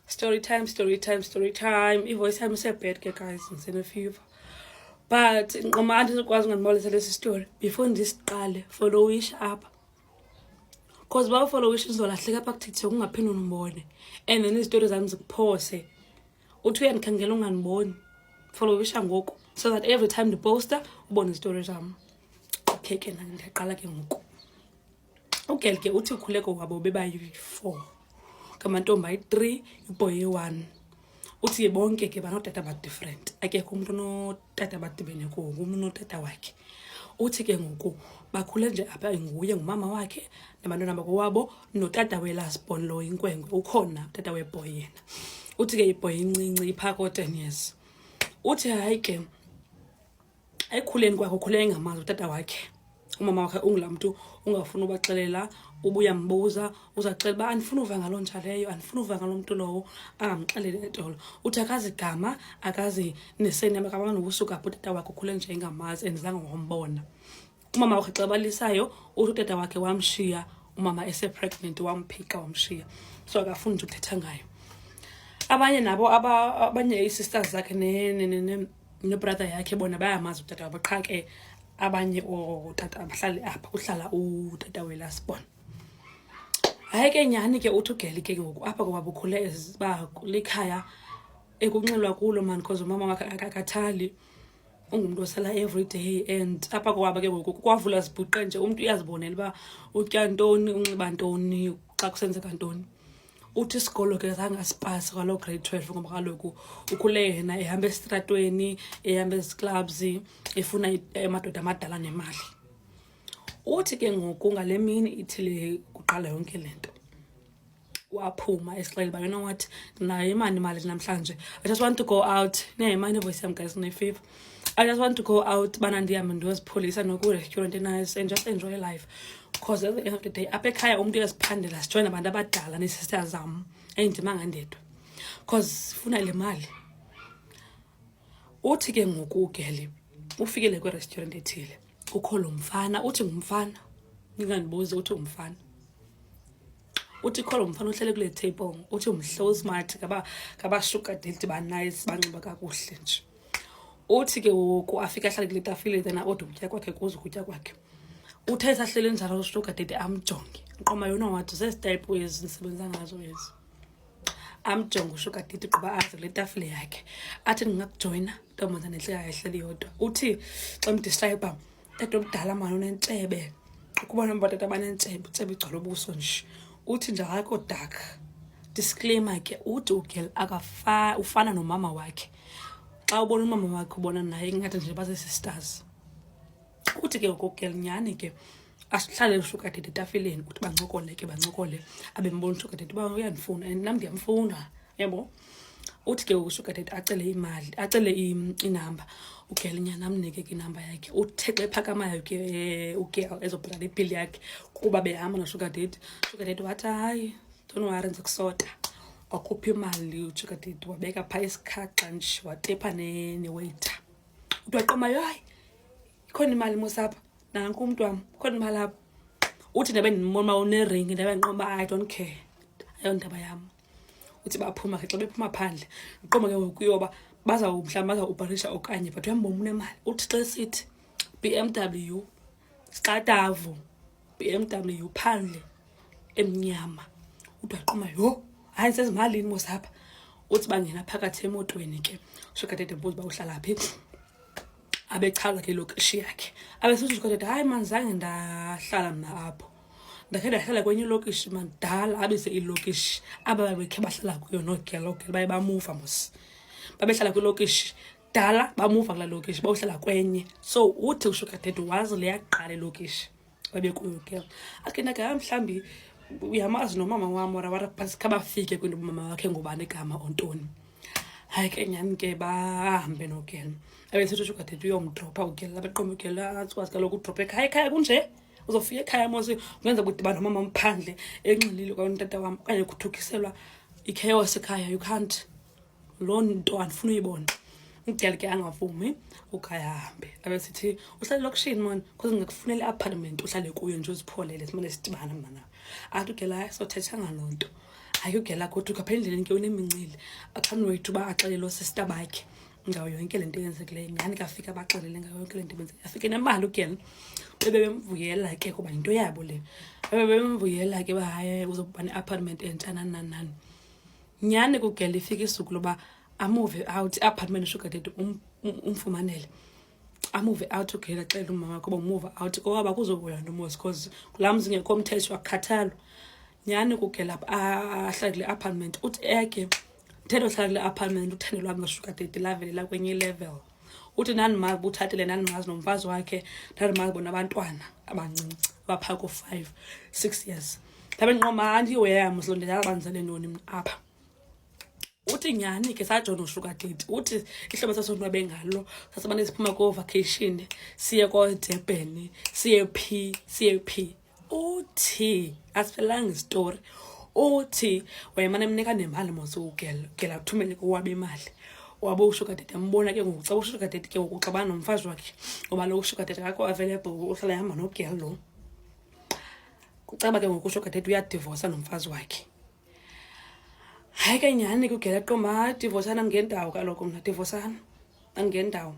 story time story time story time ivoice yam isebed ke guys ndisenefever but nqoma andizokwazi ungandibolisa lesi story before ndisiqale followish apha because uba ufollowish ndizolahleka apha kuthithe kungaphinde ndimbone and then izitori zam zikuphose uthi uyandikhangela ungandiboni followisha ngoku so that every time ndiposta ubone izitori zam okay ke nam ndiyaqala ke ngoku ugel ke uthi ukhuleko wabo bebayi-four ngamantombi ayi-three iboy eyi-one uthi bonke ke banodata badifferent akekho umntu utata abadibene kuwo ngumntu unotata wakhe uthi ke ngoku bakhule nje apha nguye ngumama wakhe nabantwana bakowabo notata we-last born lo inkwenkwe ukhona utata weboy yena uthi ke ibhoy incinci iphaa koo-ten years uthi hayi ke ekukhuleni kwakhe ukhule engamazi utata wakhe umama wakhe ungulaa mntu ungafuni ubaxelela ubuya mbuza uzaxela uba andifuna uva ngaloo ntsha leyo andifuna uva ngaloo mntu lowo angamxeleli etolo uthi akazi gama akazi neseni yam akabanga nokusuka apho utata wakhe ukhule nje ingamazi and zange wambona umama wakhe xa balisayo uthi utata wakhe wamshiya umama esepregnant wamphika wamshiya so akafuni nje ukuthetha ngayo abanye nabo abanye ii-sisters zakhe nobrother yakhe bona bayamazi utata wabo qha ke abanye ootata abahlali apha kuhlala utata welasbon hayi ke nyhani ke uthi ugeli ke ngoku apha kwaba ukhule eziba likhaya ekunxilwa kulo mani because umama wakhe akakathali ungumntu osala every day and apha kwaba ke ngoku kwavula zibhuqe nje umntu uyazibonela uba utya ntoni unxiba ntoni xa kusenzeka ntoni uthi isikolo ke zange asipasi kwaloo grade twelve ngoba kaloku ukhule yena ehamba esitratweni ehamba eziclubs efuna amadoda amadala nemali uthi ke ngoku ngale mini ithile kuqala yonke le nto waphuma esixele uba you know what ndinayo imani imali namhlanje i just want to go out ndinayo imani evoyisi yam guys ndinefever I just want to go out bana ndihambe ndiyozipholisa nokurestaurant enayo and just enjoy life because at the end of the day apha ekhaya umntu uyaziphandela sijoyine abantu abadala neesister zam endimanga ndedwa because sifuna le mali uthi ke ngoku ugele ufikele kwi-restaurant ethile kukho lo mfana uthi ngumfana ningandibuzi uthi ngumfana uthi kholo mfana uhlele kule table uthi mhle usmart ngabashuga date banice banxiba kakuhle nje uthi ke woku afike ahlale kule tafile then aode ukutya kwakhe kuze ukutya kwakhe uthe esahlele njalo ushuga date amjonge nqoma yona wathi zezitayiphu ezi ndisebenza ngazo ezi amjonge ushuga date quba aze kule tafile yakhe athi ndingakujoyina ntombazane ntle ayehleli yodwa uthi xa mdistrayibha tata omdala mani unentshebe ukuba nomba tata banentshebe utshebe igcwala ubuso nje uthi nje akho dark disclaimer ke uthi ugel akafa ufana nomama wakhe xa ubona umama wakhe ubona naye ingathi nje basesisters uthi ke ngokugel nyhani ke asihlale usuka dede etafileni uthi bancokole ke bancokole abembona usuka dede uba uyandifuna and nam ndiyamfuna yebo uthi ke usugar daddy acele imali acele inamba ugel nyana amnike ke inamba yakhe uthe xa ephakamayo ke eh, ugel ezobhatala ibhili yakhe kuba behamba nosugar daddy sugar daddy wathi hayi don't worry ndiza kusota wakhupha imali usugar daddy wabeka phaa isikhaxa nje watepha newaiter uthi waqomayo hayi ikhona imali mosapha nanku umntu wam ikhona imali apha uthi ndabe ndimona uba uneringi ndabe ndinqoba i don't care ayondaba yam uthi baphuma ke xa bephuma phandle uqoma ke ngoku yoba bazawumhlawumbi bazawubharisha okanye but uyambona unemali uthi xa esithi b m w sixatavo b m w phandle emnyama uthi waqoma yho hayi ndisezimalini mos apha uthi bangena phakathi emotweni ke sukadede mbuzi uba uhlala phi abechaza ke lokishi yakhe abesizukadede hayi mani zange ndahlala mna apho ndakhe ndahlala kwenye ilokishi madala abize ilokishi aba babekhe bahlala kuyo noogelogel baye bamuva mos babehlala kwilokishi dala bamuva kulaa lokishi bawuhlala kwenye so uthi usho kadede wazi leyaqala ilokishi babekuyo ke akhe ndake ha mhlawumbi uyamazi nomama wam ora wara phantsi khabafike kwinto umama wakhe ngubani igama ontoni hayi ke nyhani ke bahambe nogel abe sithi usho kadede uyomdropha ugel abeqoma ugel atsiwazi kaloku udrophe ekhaya ekhaya kunje uzofika ekhaya mose kungenzeka ukuthi bani umama mphandle enxilile kwayo utata wam okanye kuthukiselwa ichaos ekhaya you can't loo nto andifuna uyibona umdala ke angavumi ugaye ahambe abe sithi uhlale lokishini mona because ngikufunele i-apartment uhlale kuyo nje uzipholele simane sidibana mna nawe athi ugela sothetha ngaloo nto ayugela kodwa ukapha endleleni ke unemincili akanwethu uba axelelo sista bakhe ngayo yonke le nto yenzekileyo nyhani kafika baxelele ngayo yonke le nto benzeke afike nemali ugen bebe bemvuyela ke kuba yinto yabo le bebe bemvuyela ke uba hayi uzokuba ne-apartment entsha nananani nyhani kugel ifika isuku loba amuve out i-apartment ushugadede um-, um-, umfumanele amuve out ugela xelela umama wakho uba umuva out kowaba kuzobuya nomosi because kulaa mzi ngekho mthetho akukhathalwa nyhani kugela ahlale kule apartment uthi eke thetho hlala kule apartment uthando lwam nosugar dade lavelela kwenye ilevel uthi ndandimazi utshatile ndandimazi nomfazi wakhe ndandimazi bona abantwana abancinci abaphaa ko-five six years ndabe ndinqoma andiweyam silo ndindabanzele ntoni mna apha uthi nyhani ke sajona usugar date uthi ihlobo sasonwabe ngalo sasimane siphuma koo-vacation siye koodebheni siye phi siye phi uthi asiphelanga isitori uthi wayemane emnika nemali mose ugela ugela uthumele kowabo imali wabe ushugadede ambona ke ngoku xa ushugadede ke ngoku xa banomfazi wakhe ngoba lo ushugadede akho available uhlala ehamba nogel lo kucaba ke ngoku ushugadede uyadivosa nomfazi wakhe hayi ke nyhani ke ugela qomba divosana ngendawo kaloku mna divosana angendawo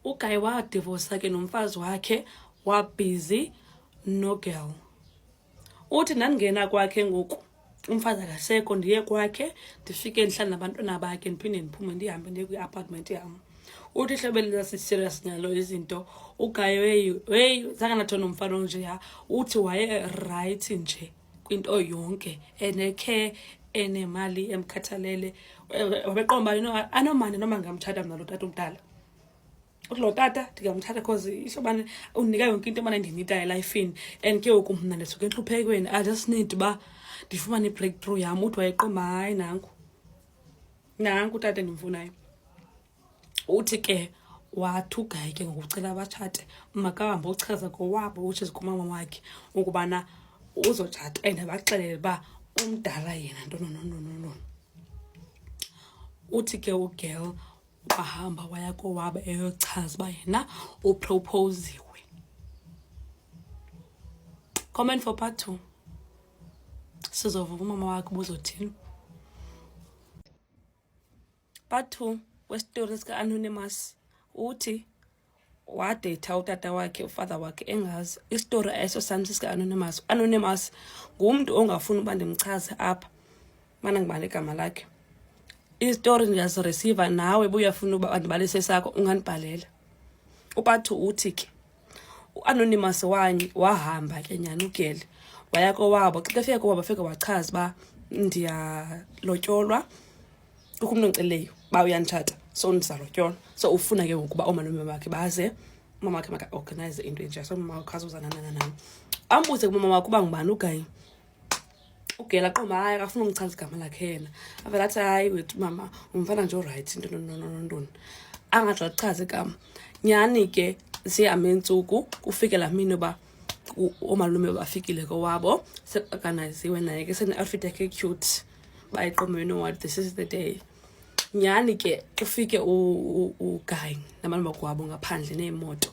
ugayi wadivosa ke nomfazi wakhe wabhizi nogel uthi ndandingena kwakhe ngoku umfazi akasekho ndiye kwakhe ndifike ndihlale nabantwana bakhe ndiphinde ndiphume ndihambe ndiye kwi-apartment yam uthi hlobo elinasiserious ngalo izinto ugaye weyi weyi zange nathona umfana onjeya uthi wayerayithi nje kwinto yonke enekhe enemali emkhathalele wabeqomba you know anomane noma ngingamthatha mna lo tata omdala uthi lo tata ndingamthatha because isho ubana undinika yonke into emane ndinitayo elifini and ke ngoku mna ndisuke entluphekweni i just need uba ndifumane i-breakthrough yam uthi wayeqomba hayi nanku nanku utata endimfunayo uthi ke wathi ugayi ke ngokucela abatshate makahambe ochaza kowabo which is kumama wakhe ukubana uzotshata and abaxelele uba umdala yena ntononononono uthi ke ugirl wahamba waya kowabo eyochaza uba yena uproposiwe comment for part two sizova umama wakhe ubuzothini part two wesitori sika-anonymous uthi wadeyitha utata wakhe ufather wakhe engazi isitori eso sam sisika-anonymous u-anonymous ngumntu ongafuni uba ndimchaze apha mana ngibane igama lakhe izitori ndiyaziresiva nawe buyafuna uba ndibalise sakho ungandibhalela upathu uthi ke uanonymous wanye wahamba ke nyhani ugeli waya kowabo xa efika kowabo afike wachaza uba ndiyalotyolwa kukho umntu ondiceleyo uba uyanditshata so ndizalotyolwa so ufuna ke ngokuba oomalume bakhe baze umama wakhe makaorganize into enje so mama wakhe azozananananam ambuze kumama wakhe uba ngubani ugayi ugela qoma hayi akafuna umchaza igama lakhe yena avele athi hayi wethu mama umfana nje orayithi into ntononontoni angatsho achaze igama nyhani ke zihambe iintsuku kufike laa mini uba oomalume bafikile kowabo seorganiziwe naye ke sene-outfit yakhe cute bayiqomeni oward this is the day nyhani ke ufike ugayi namalungu kwabo ngaphandle neemoto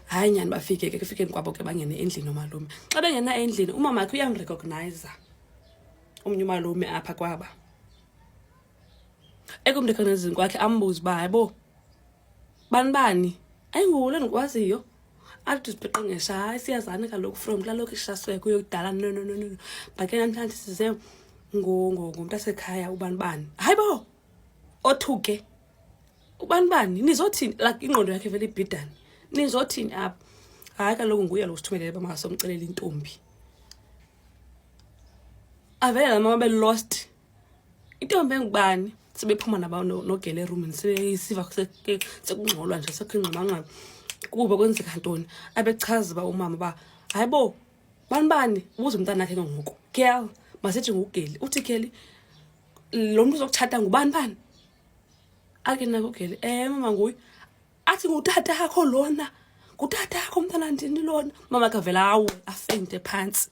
hayi nyhani bafike ke kufikeni kwabo ke bangene endlini omalume xa bengena endlini umamakhe uyamrecogniza omnye umalume apha kwaba ekumrecognizini kwakhe ambuze uba hayibo bani bani ayingulo ndikwaziyo athi sipeqengesha hayi siyazani kaloku from kulaa lokishi sasuke kuyo kudala no no no no but ke namhlanje size ngumntu asekhaya ubani bani hayi bo othuke ubani bani nizothini like ingqondo yakhe vele ibhidane nizothini apha hayi kaloku nguye lo sithumelele bamakasomcelela intombi avele la mama belost intombi engubani sebephuma nogele erumini sebesiva sekungxolwa nje sekho ingxabangxaba kuba kwenzeka ntoni abechaza uba umama uba hayi bo bani bani ubuze umntana akhe ke ngoku girl masithi ngugeli uthi geli lo mntu uzokutshata ngubani bani ake nako ugeli um eh, mama nguye athi ngutata akho lona ngutata akho umntana ndini lona mama kavela awe afente phantsi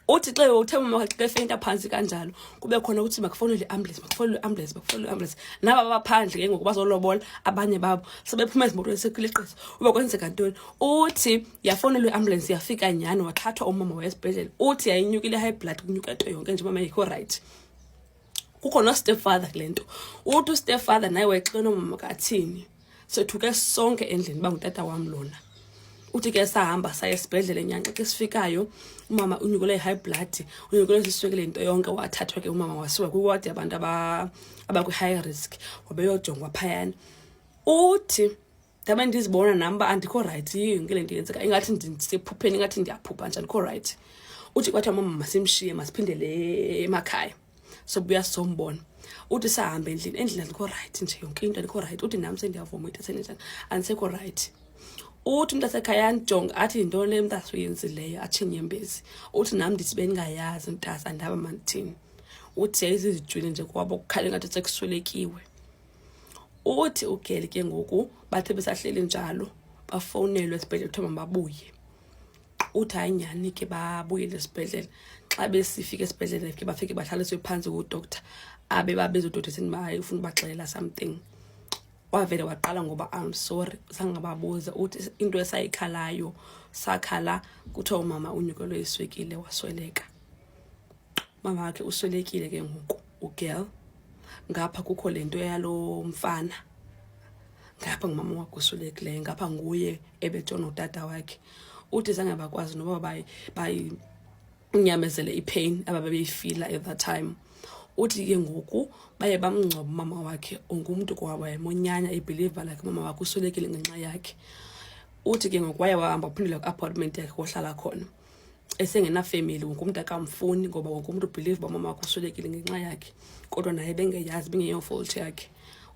uthi xa uthe umama wakhe xa efeyinta phantsi kanjalo kube khona ukuthi makufowunele iambulance makufowunele iambulance makufowunele iambulance naba baphandle ke ngoku bazolobola abanye babo sebephuma ezimotweni sekuleqisa uba kwenzeka ntoni uthi yafowunelwa iambulance yafika nyhani wathathwa umama waye esibhedlele uthi yayinyukile high blood kunyuka nto yonke nje umama yikho rayithi kukho nostepfather kule nto uthi ustepfather naye wayexelwe nomama kathini sethuke sonke endlini uba ngutata wam lona uthi ke sahamba saya esibhedlele nyanxa xa sifikayo umama unyukelwe yi-high blood unyukelwe siswekile into yonke wathathwa ke umama wasiwa kwiwadi abantu abakwi-high risk wabeyojongwa phayana uthi ndabe ndizibona nam uba andikho rayithi yiyo yonke le nto yenzeka ingathi ndisephupheni ingathi ndiyaphupha nje andikho rayithi uthi kwathi mama masimshiye masiphindele emakhaya sobuya sombona uthi sahambe endlini endlini andikho rayithi nje yonke into andikho rayithi uthi nam sendiyavuma into senenjani andisekho rayithi uthi umntu asekhaya andijonge athi yintoni le mntasa uyenzileyo atsho inyembezi uthi nam ndithi bendingayazi mntasa andaba mandithini uthi yayizizijwile nje kwabo kukhale ngathi sekuswelekiwe uthi ugeli ke ngoku bathe besahleli njalo bafowunelwe esibhedlele kuthiwa mababuye uthi hayi nyhani ke babuyele esibhedlele xa besifika esibhedlele ke bafike bahlaliswe phantsi kudoctor abe babezodoctor sini uba hayi ufuna ubaxelela something wavele waqala ngoba am sorry sangababuza uthi into esayikhalayo sakhala kuthiwa umama unyukelwe iswekile wasweleka mama wakhe uswelekile ke ngoku ugirl ngapha kukho le nto yalo mfana ngapha ngumama wakhe uswelekileyo ngapha nguye ebetshona utata wakhe uthi zange bakwazi noba bayinyamezele ipain aba babeyifila at that time uthi ke ngoku baye bamngcoba umama wakhe ungumntu kwawayemonyanya ibhiliva lakhe umama wakhe uswelekile ngenxa yakhe uthi ke ngoku waye wahamba uphindela kwi-apartment yakhe wohlala khona esengenafemeli wonke umntu akamfuni ngoba wonke umntu ubhilive uba mama wakho uswelekile ngenxa yakhe kodwa naye bengeyazi bengeyofolthi yakhe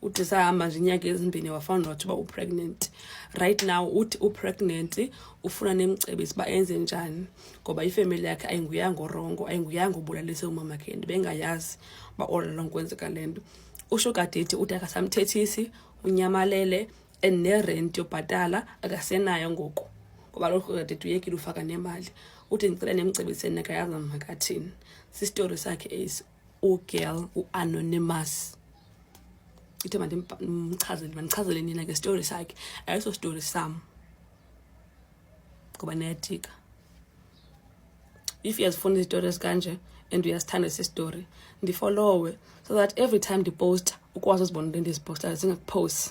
uthi sahamba nje inyanga ezimbini wafana nothi uba upregnant right now uthi upregnant ufuna nemcebisi uba enze njani ngoba ifemeli yakhe ayinguyanga orongo ayinguyanga obulalise umamakhe and bengayazi uba all along kwenzeka le nto usho kadeti uthi akasamthethisi unyamalele and nerent yobhatala akasenayo ngoku ngoba lokho kade tuyekile ufaka nemali uthi ndicela nemcebiseni nekayazi makathini sistory sakhe esi ugirl uanonymous ithe mandimchazele mandichazele nina ke story sakhe ayiso story sam ngoba niyadika if uyazifuna izitori ezikanje and uyasithanda esi story ndifolowe so that every time ndiposta ukwazi uzibona into endizipostayo zingakuphosi